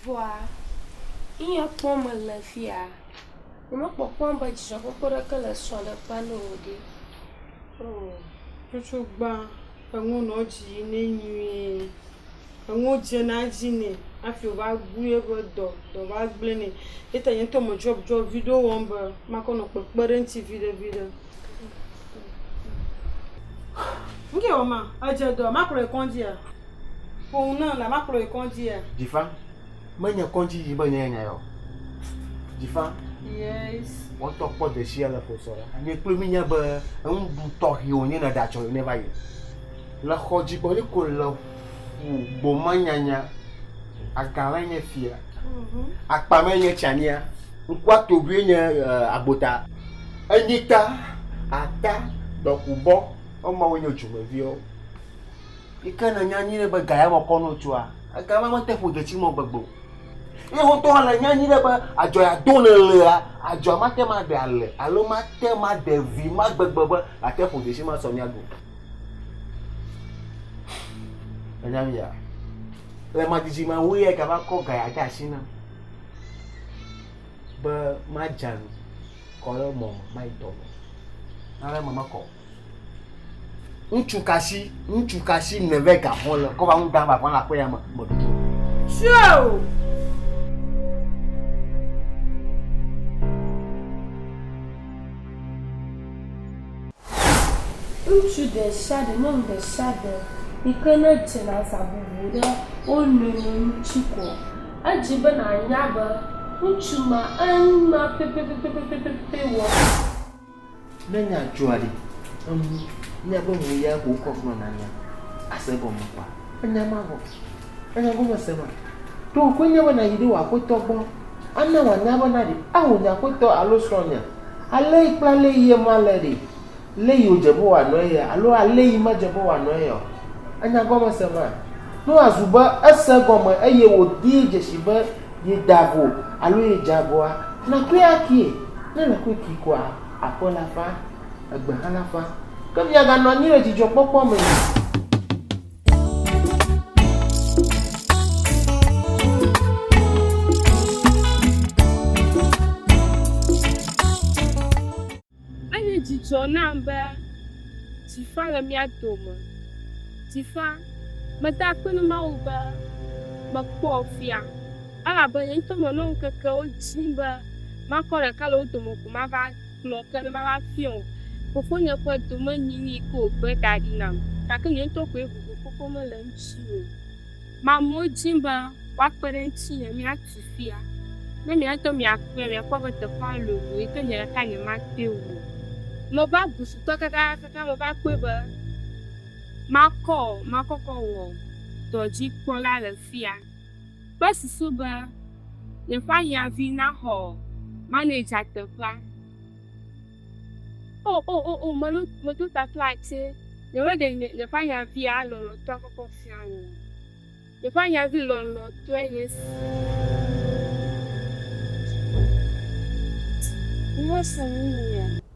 Vɔa, eya kpɔ mele fia, nyemekpɔkpɔm be dzidzɔkpɔkpɔ ɖeke le srɔ̃ɖeƒea na wò ɖi o. Ŋutsu gbã, eŋu nɔ dzi nɛ nyuie. enuwo dzena edzi nɛ hafi wòva bu eƒe dɔ, dɔ va gblẽ nɛ. Ye ta nye ŋutɔ medzɔdzɔ viɖe wɔm be makɔ nɔ kpekpe ɖe eŋuti viɖe viɖe. Nu kɛ wɔ ma? Edze dɔ, makplɔ yi kɔŋdzia? Ƒo nu nam la makplɔ yi kɔŋdzia? Jifa, menye kɔŋdzi yi be nye nya ya o. Jifa. Yes. Wɔtɔ kpɔ desia le ƒo sɔ ɖe. Nye kple mi nya be enuɖu tɔxɛ wònye ne ɖatsɔ yi ne va yi. Le xɔ dzi gbɔ ye ko le ƒu gbo ma nyanya aga ma nye fia akpa ma nye tsania ŋkua tobue nye eh, agbota enyita ata dɔkubɔ ema wo nye dzumeviwo yi ke ne nya nyuie be ga ya me kɔ no tsoa ega ma mete ƒu detsi mɔ gbegbe o ye ŋutɔ hã le nya nyuie be adzɔ ya do ne lea adzɔ ma te ma ɖe ale alo ma te ma ɖe vi ma gbegbe be ate ƒu detsi ma sɔ mia ɖu Ènya nuya? Le madzidzi me wu ye gava kɔ gaya de asi nam be madze anyi kɔ ɖe mɔ me mayi dɔ me. Ale me mekɔ o. Ŋutsu ka si ŋutsu ka si nève ga xɔ le kɔ va ŋu dam va kɔ le aƒe ya me meɖu to. Sio! Ŋutsu ɖe sia ɖe, nyɔnu ɖe sia ɖe yi ke ne dze le aza bubu ɖe wo nɔewo ŋuti ko edzi be nànya be ŋutsu ma enu ma pɛpɛpɛpɛpɛpɛ wɔm. Ne nya dzɔa ɖi, enu, míaƒe nuya ko wokɔ gblɔna nya ase gɔme kpɔa, enya mavɔ. Ènya gɔme se ma? Ɖo wòkoe nye be nàyi ɖe wò aƒetɔ gbɔ, ana wòanya be na ɖe ao nye aƒetɔ alo srɔ̃nye alée kple alé yie male ɖe, lé yi wòdze be wòanɔ eyea, alo alé yi medze be wòanɔ eyea o. Ènya gɔme se ma? Ne wòazu be ese egɔme eye wòdee dzesi be yeda ago alo yedze agoa, nàkɔe akie. Ne èle kɔe kee koa, aƒe la ƒã, egbe hã la ƒã. Ke miaganɔ anyi le dzidzɔkpɔkpɔ me. Enye dzidzɔ nam be Tifa le mía dome. Tifa, meda akpe na Mawu be mekpɔ fia elabe nye ŋutɔ menɔ ŋkekewo dim be makɔ ɖeka le wo dome ko mava Kplɔ ke be mava fiɔ wò fofonye ƒe domenyinyi ko wògbe ɖa ɖi nam, gake nye ŋutɔ koe vovo xoxo mele eŋuti o. Mamewo dim be woakpe ɖe ŋutinye míatu fia. Ne mia ŋutɔ miakpɔe la, miakpɔ be teƒea lolo eye ke nye ɖeka nyematɔe o. Meva bu futɔ kakakaka meva kpɔe be makɔ makɔkɔ wɔ dɔdzikpɔla le fia. Kpe susu be yeƒeahiãvi naxɔ manager teƒea. O, o, o, o, melo, medo tafla tsɛ. Nyemeɖe nye, yeƒeahiãvia lɔlɔ̃tɔa kpɔkpɔ fia o. Yeƒeahiãvi lɔlɔ̃tɔe nye esi. Womesɔ nu mea?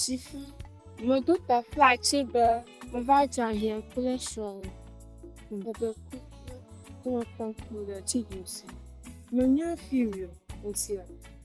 Sifu, meɖo teƒea tsi be meva dze ahiã kple srɔ̃ bebe ku kple kpɔkpɔ ɖe tsi dzi. Menye fi wòsi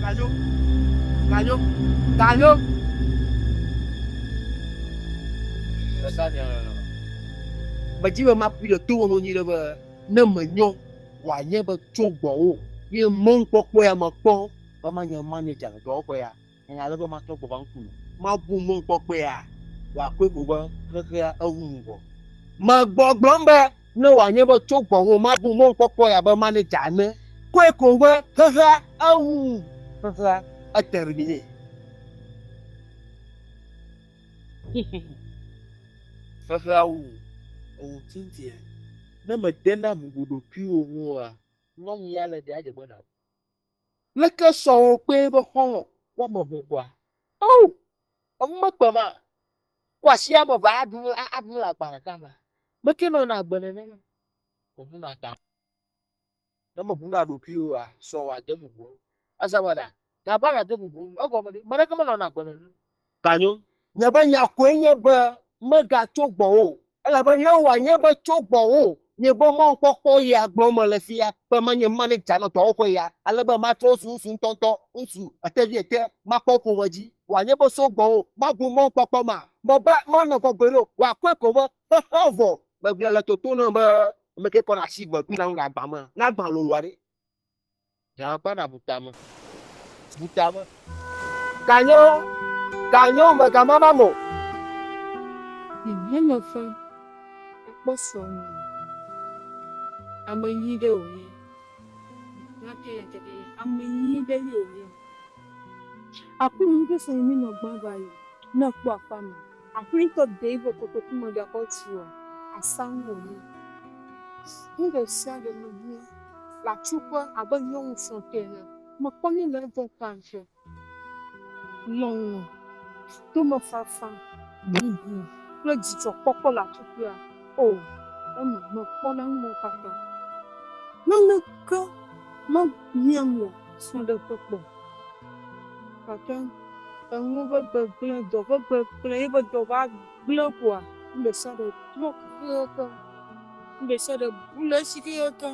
Ganyo, ganyo, ganyo. Esa nya le nɔ. Medzi be makpui le to wɔnu nyuiɖe be ne menyɔ wòanye be tso gbɔwò ye mɔnukpɔkpɔ ya mekpɔ be manye manager le dɔwɔƒe ya. Enya ale be matrɔ gbɔ va ŋkunye. Mabu mɔkpɔkpɔea wò akpɔe ko be xexea ewu ŋgɔ. Megbɔgblɔm be ne wòanye be tso gbɔwò mabu mɔkpɔkpɔea be manager ene koe ko be xexea ewu xexea etermine. Xexea wu ewu tintia. Ne mède na bubu ɖokuiwò ŋu oa, nyɔnyi ya le ɖe adzegbe na wò. Leke sɔwo kpee be xɔlɔ̃ woame eve ɖua? Oo, enu mekpe ma. Ko asi ame eve aɖu la aɖu le agba ɖeka mea, meke nɔna agbe nenema o. Meʋuna ta o. Ne meʋuna ɖokuiwò oa, sɔwò ade bubu eŋu. Ese be ɖa? Gavana de bubu eŋu. Egɔme ɖe? Ame ɖeke menɔna agbe nenema o. Kanyo! Nye be nya koe nye be megatso gbɔwò o, elabe Yehowa nye be tso gbɔwò nye be mɔkpɔkpɔ ya gblɔm mele fia, be manye maneja nɔ dɔwɔƒe ya, ale be matrɔ ŋsu ŋsu ŋutɔŋutɔ, ŋsu eteviete, makpɔ ƒome dzi, wòanye be so gbɔwò mabu mɔkpɔkpɔ ma, me be manɔ gbɔgbɔe ɖo, wòakpɔe ko be xexea vɔ. Megblɔe le toto nam be, Ameke kɔ ɖe asi gbe dona nu le agba me, ne agba lolo aɖe? Nya akpa na bu tame. Bu tame. Kanyo, kanyo me ka mama mo. Hɛn me fã akpɔ sɔ mi. Ame nyi ɖe o ye. Nya ke ya ke ɖe ye. Ame nyi ɖe ye o ye. Aku mi ɖe se yi mi nɔ gba va yi. Nɔ kpɔ akpa ma. Aƒlitɔ Dave kotoku megakpɔ tsi o, asa nu wònye. Nu ɖe sia ɖe mehiã le atsuƒe abe nyɔnu srɔ̃tɔ ene. Mekpɔ nu le egbɔ ƒã ke. Lɔlɔ̃, tomefafa, bubu kple dzidzɔkpɔkpɔ le atsuƒea. O, eme mekpɔ na nuwo katã. Naneke mehiãm le srɔ̃ɖeƒe kpɔ o. Gake. Eŋu ƒe gbegblẽ, dɔ ƒe gbegblẽ, ye ƒe dɔ va gblẽ koa, nu ɖe sia ɖe trɔ kekeake. Nu ɖe sia ɖe bu le edzi kekeake.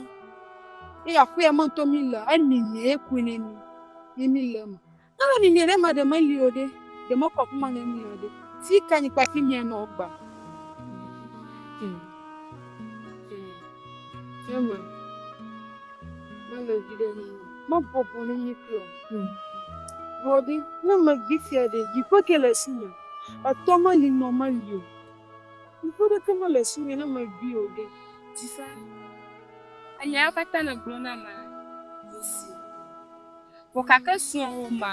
Eye aƒea ma ŋutɔ mílea, emiãe koe ne mí ye míle eme. Ne memiãe ɖe emea ɖe meli o ɖe, ɖe mekɔ afi ma ne mía o ɖe, fi kae nye kple afi míanɔ gbã? Amen. Mele vi ɖe ni. Ma bɔbɔ ni ni klo. Hmm. Bɔdi, ne me vi fia de, yi pe ke le si me. Atɔ me li nɔ me li o. Yi pe de ke me le si me ne me vi o de. Ti sa. Anya ya kata ne glo na ma. Visi. Pokake suo ma.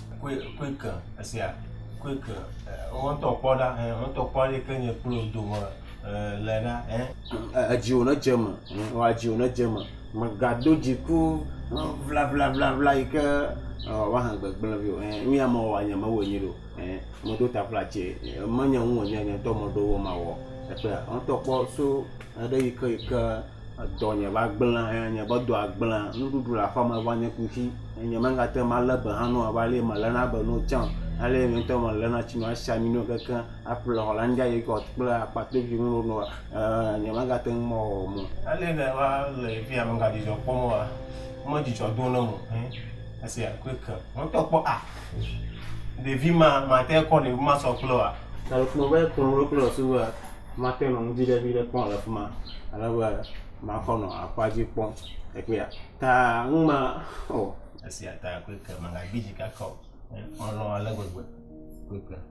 Quick esia, Quick wo ŋutɔ kpɔ ɖa ẽ wo ŋutɔ kpɔ ale yike nye kple wò dome le ɖa ẽ. Edziwò ne dze eme, ewa dziwò ne dze eme. Mègado dziku ʋlaʋlaʋla yi ke wòava he gbegblẽ vɛ o. Ẽ nu ya mewɔa nye mewɔe nyuie ɖe o. Ẽ meɖo ta ƒla tse menye nu wònye nye ŋutɔ meɖo wɔ mawɔ. Ekpɔe ya wo ŋutɔ kpɔ so eɖe yi ke yi ke. Edɔnye va gblẽ eye nye ƒe dɔa gblẽ. Nuɖuɖu le aƒeme va nye kuxi eye nye megate ŋu alé be hã na wo va ale meléna be na wo tsã o. Alea nye ŋutɔ meléna tsi nɔ esi ami nɛ keŋ aƒle Hollandia yoghurt kple akpatoɖiɖi nu ɖe nua e nye megate ŋu mewɔ mɔ. Alea ne va le afi ya megadzidzɔ kpɔm oa, medzidzɔ dom ɖe eme o. Esia klui ke. Ŋutɔ kpɔ a! Ɖevi ma mate kɔ ɖevi ma sɔ kple oa? Ele kplɔ be kplɔ ɖo kple esi be mate nɔ ŋdi ɖe viɖe kpɔm le fima ale be makɔ nɔ aƒa dzi kpɔm le kpea ta ŋu ma o. Esia ta koe ke magagbi dzi kaka o. Melɔ̃ ale gbegbe koe ke.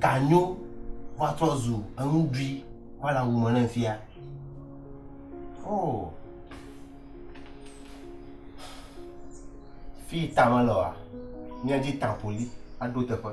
Ganyo va trɔ zu enuɖui va le awu me ne fia. Oo. Fi yi ta mele oa, míadi tapoliɖo teƒe.